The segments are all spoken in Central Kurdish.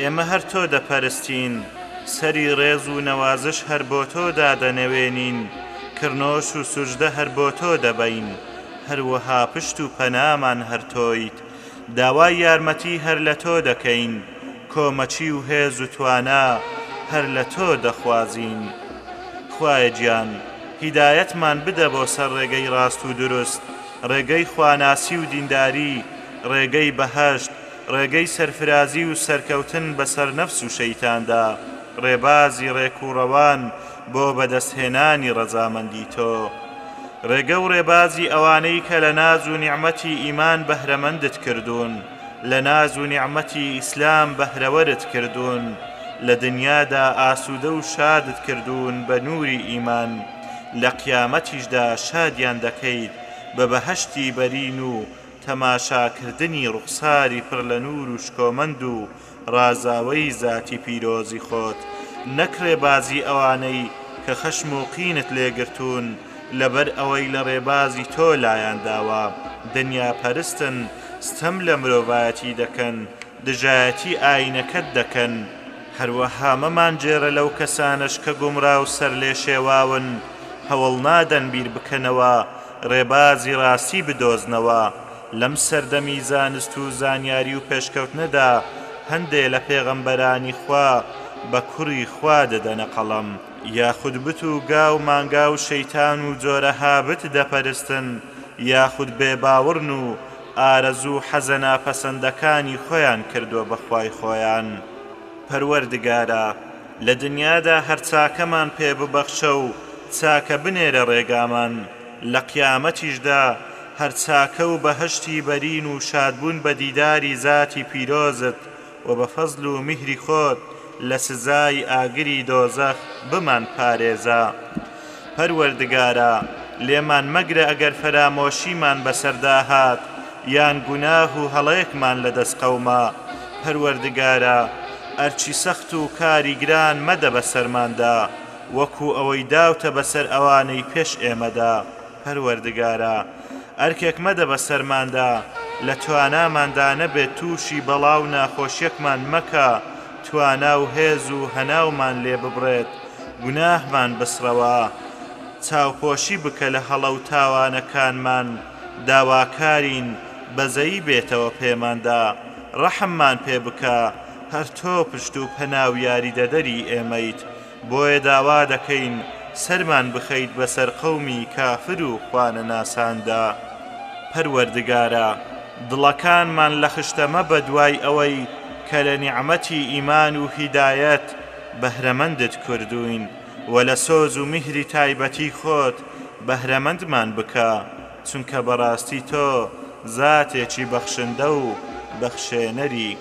ئێمە هەر تۆ دەپەرستین، سەری ڕێز و نەوازش هەر بۆ تۆ دادەنەوێنین، کڕنۆش و سوجدە هەر بۆ تۆ دەبەین، هەروەها پشت و پەنامان هەر تۆیت، داوای یارمەتی هەر لە تۆ دەکەین، کۆمەکی و هێز و توانا هەر لە تۆ دەخوازین. خوایە گیان، هیدایەتمان بدە بۆ سەر ڕێگەی ڕاست و دروست، ڕێگەی خواناسی و دینداری، ڕێگەی بەهەشت، ڕێگەی سەرفرازی و سەرکەوتن بەسەر نەفس و شەیتاندا، ڕێبازی ڕێک و ڕەوان بۆ بەدەستهێنانی ڕەزامەندی تۆ. ڕێگە و ڕێبازی ئەوانەی کە لە ناز و نیعمەتی ئیمان بەهرەمەندت کردوون، لە ناز و نیعمەتی ئیسلام بەهرەوەرت کردوون، لە دنیادا ئاسوودە و شادت کردوون بە نووری ئیمان، لە قیامەتیشدا شادیان دەکەیت بە بەهەشتی بەرین و تەماشاکردنی ڕوخساری پڕ لە نوور و شکۆمەند و ڕازاوەی زاتی پیرۆزی خۆت، نەک ڕێبازی ئەوانەی کە خەشم و قینت لێ گرتوون لەبەر ئەوەی لە ڕێبازی تۆ لایان داوە، دنیا پەرستن، ستەم لە مرۆڤایەتی دەکەن، دژایەتی ئاینەکەت دەکەن، هەروەها مەمانگێرە لەو کەسانەش کە گومڕا و سەرلێشێواون، هەوڵ نادەن بیربکەنەوە، ڕێبازی ڕاستی بدۆزنەوە، لەم سەردەمی زانست و زانیاری و پێشکەوتنەدا هەندێ لە پێغەمبەرانی خوا بە کوڕی خوا دەدەنە قەڵەم، یاخود بت و گا و مانگا و شەیتان و جۆرەها بت دەپەرستن، یاخود بێباوڕن و ئارەزوو حەزە ناپەسەندەکانی خۆیان کردوە بە خوای خۆیان پەروەردگارا لە دنیادا هەر چاکەمان پێ ببەخشە و چاکە بنێرە ڕێگامان لە قیامەتیشدا هەر چاکە و بەهەشتی بەرین و شادبوون بە دیداری زاتی پیرۆزت و بە فەزل و میهری خۆت لە سزای ئاگری دۆزەخ بمان پارێزە پەروەردگارا لێمان مەگرە ئەگەر فەرامۆشیمان بەسەردا هات یان گوناه و هەڵەیەکمان لە دەست قەوما پەروەردگارا ئەرکی سەخت و کاری گران مەدە بەسەرماندا وەکو ئەوەی داوتە بەسەر ئەوانەی پێش ئێمەدا. پەروەردگارا ئەرکێک مەدە بەسەرماندا لە تواناماندا نەبێت تووشی بەڵا و ناخۆشیەکمان مەکە توانا و هێز و هەناومان لێ ببڕێت گوناهمان بسڕەوە چاوپۆشی بکە لە هەڵە و تاوانەکانمان داواکارین بەزەیی بێتەوە پێماندا ڕەحممان پێ بکە هەر تۆ پشت و پەنا و یاریدەدەری ئێمەیت بۆیە داوا دەکەین سەرمان بخەیت بەسەر قەومی کافر و خوانەناساندا پەروەردگارا دڵەکانمان لە خشتە مەبە دوای ئەوەی کە لە نیعمەتی ئیمان و هیدایەت بەهرەمەندت کردووین وە لە سۆز و میهری تایبەتی خۆت بەهرەمەندمان بکە چونکە بەڕاستی تۆ زاتێکی بەخشندە و بەخشێنەری.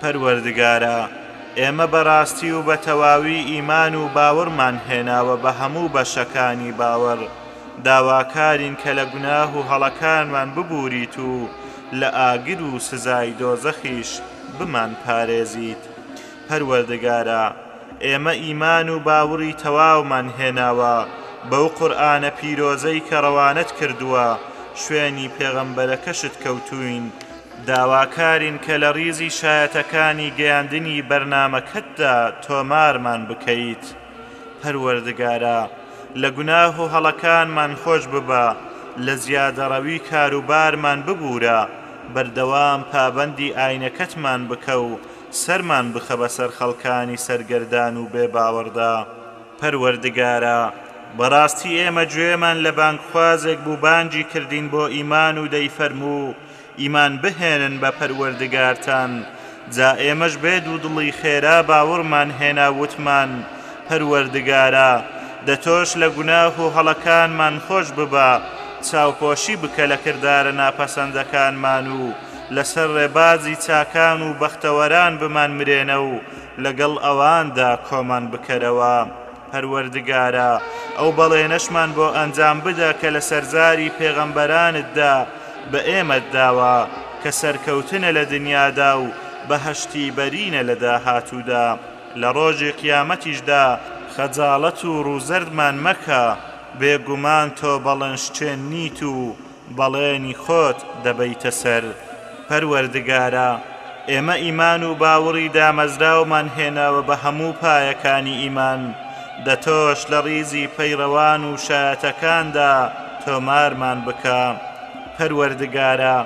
پەروەردگارا ئێمە بەڕاستی و بەتەواوی ئیمان و باوەڕمان هێناوە بە هەموو بەشەکانی باوەڕ، داواکارین کە لە گوناه و هەڵەکانمان ببووریت و لە ئاگر و سزای دۆزەخیش بمانپارێزیت. پەروەردگارا ئێمە ئیمان و باوڕی تەواومان هێناوە بەو قورئانە پیرۆزەی کە ڕەوانەت کردووە شوێنی پێغەمبەرەکەشت کەوتووین، داواکارین کە لە ڕیزی شایەتەکانی گەیاندنی بەرنامەکەتدا تۆمارمان بکەیت، پەروەردگارا لە گوناه و هەڵەکانمان خۆش ببە، لە زیادەڕەوی کاروبارمان ببوورە، بەردەوام پابەندی ئاینەکەتمان بکە و سەرمان بخە بەسەر خەڵکانی سەرگەردان و بێ باوەڕدا. پەروەردگارا، بەڕاستی ئێمە گوێمان لە بانگخوازێک بوو بانگی کردین بۆ ئیمان و دەیفەرموو، ئیمان بهێنن بە پەروەردگارتان، جا ئێمەش بێ دوودڵی خێرا باوڕمان هێنا وتمان، پەروەردگارا، دە تۆش لە گوناه و هەڵەکانمان خۆش ببە، چاوپۆشی بکە لە کردارە ناپەسەندەکانمان و لەسەر ڕێبازی چاکان و بەختەوەران بمانمرێنە و لەگەڵ ئەواندا کۆمان بکەرەوە. پەروەردگارا، ئەو بەڵێنەشمان بۆ ئەنجام بدە کە لەسەر زاری پێغەمبەرانتدا بە ئێمەت داوە، کە سەرکەوتنە لە دنیادا و بەهەشتی بەرینە لە داهاتوودا، لە ڕۆژی قیامەتیشدا، خەجاڵەت و ڕووزەردمان مەکە، بێگومان تۆ بەڵێنشکێن نیت و بەڵێنی خۆت دەبەیتە سەر. پەروەردگارا، ئێمە ئیمان و باوڕی دامەزراومان هێناوە بە هەموو پایەکانی ئیمان، دە تۆش لە ڕیزی پەیڕەوان و شایەتەکاندا تۆمارمان بکە. پەروەردگارا،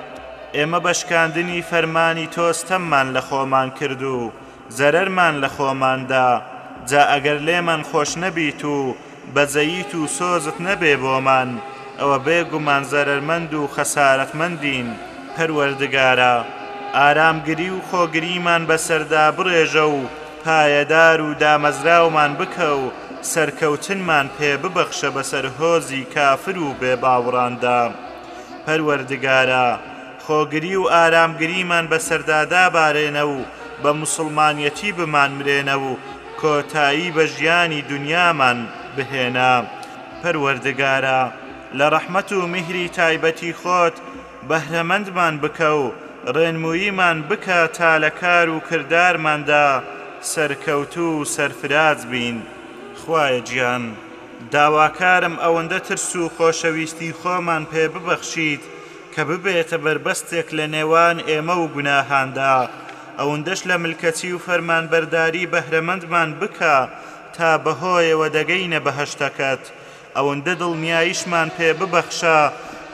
ئێمە بە شکاندنی فەرمانی تۆ ستەممان لە خۆمان کرد و زەرەرمان لە خۆمان دا، جا ئەگەر لێمان خۆش نەبیت و بەزەییت و سۆزت نەبێ بۆمان ئەوە بێ گومان زەرەرمەند و خەسارەتمەندین، پەروەردگارا ئارامگری و خۆگریمان بەسەردا بڕێژە و پایەدار و دامەزراومان بکە و سەرکەوتنمان پێ ببەخشە بەسەر هۆزی کافر و بێ باوڕاندا پەروەردگارا خۆگری و ئارامگریمان بەسەردا دابارێنە و بە موسڵمانیەتی بمانمرێنە و کۆتایی بە ژیانی دونیامان بهێنە پەروەردگارا لە ڕەحمەت و میهری تایبەتی خۆت بەهرەمەندمان بکە و ڕێنموویمان بکە تا لە کار و کردارماندا سەرکەوتوو و سەرفراز بین خوایە گیان داواکارم ئەوەندە ترس و خۆشەویستی خۆمان پێ ببەخشیت کە ببێتە بەربەستێک لە نێوان ئێمە و گوناهاندا، ئەوندەش لە ملکەچی و فەرمانبەرداری بەهرەمەندمان بکە تا بەهۆیەوە دەگەینە بەهەشتەکەت، ئەوندە دڵنیاییشمان پێ ببەخشە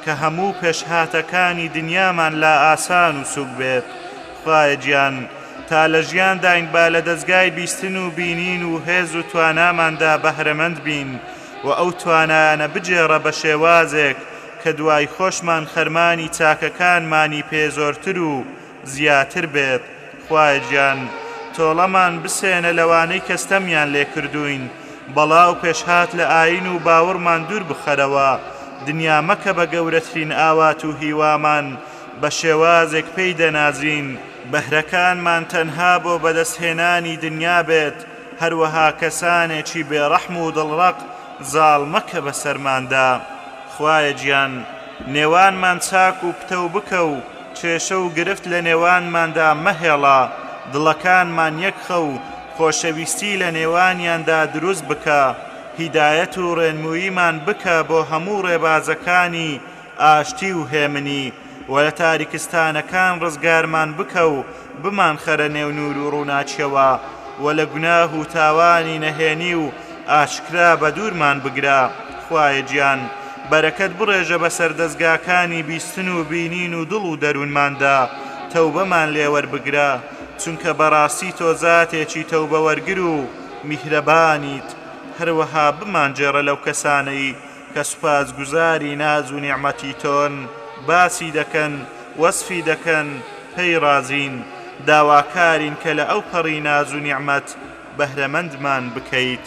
کە هەموو پێشهاتەکانی دنیامان لا ئاسان و سووک بێت، خوایە گیان تا لە ژیانداین با لە دەزگای بیستن و بینین و هێز و تواناماندا بەهرەمەند بین و ئەو توانایانە بگێڕە بە شێوازێک کە دوای خۆشمان خەرمانی چاکەکانمانی پێ زۆرتر و زیاتر بێت، خوایە گیان تۆڵەمان بسێنە لەوانەی کە ستەمیان لێ کردووین، بەڵا و پێشهات لە ئایین و باوڕمان دوور بخەرەوە، دنیا مەکە بە گەورەترین ئاوات و هیوامان، بە شێوازێک پێی دەنازین، بەهرەکانمان تەنها بۆ بەدەستهێنانی دنیا بێت، هەروەها کەسانێکی بێڕەحم و دڵڕەق زاڵ مەکە بەسەرماندا، خوایە گیان نێوانمان چاک و پتەو بکە و کێشە و گرفت لە نێوانماندا مەهێڵە، دڵەکانمان یەکخە و خۆشەویستی لە نێوانیاندا دروست بکە، هیدایەت و ڕێنموویمان بکە بۆ هەموو ڕێبازەکانی ئاشتی و هێمنی و لە تاریکستانەکان ڕزگارمان بکە و بمانخەرە نێو نوور و ڕووناکیەوە و لە گوناه و تاوانی نەهێنی و ئاشکرا بەدوورمان بگرە خوایە گیان بەرەکەت بڕێژە بەسەر دەزگاکانی بیستن و بینین و دڵ و دەروونماندا تەوبەمان لێ وەربگرە چونکە بەڕاستی تۆ زاتێکی تەوبەوەرگر و میهرەبانیت هەروەها بمانگێڕە لەو کەسانەی کە سوپاسگوزاری ناز و نیعمەتی تۆن، باسی دەکەن، وەسفی دەکەن، پێی ڕازین، داواکارین کە لە ئەوپەڕی ناز و نیعمەت بەهرەمەندمان بکەیت.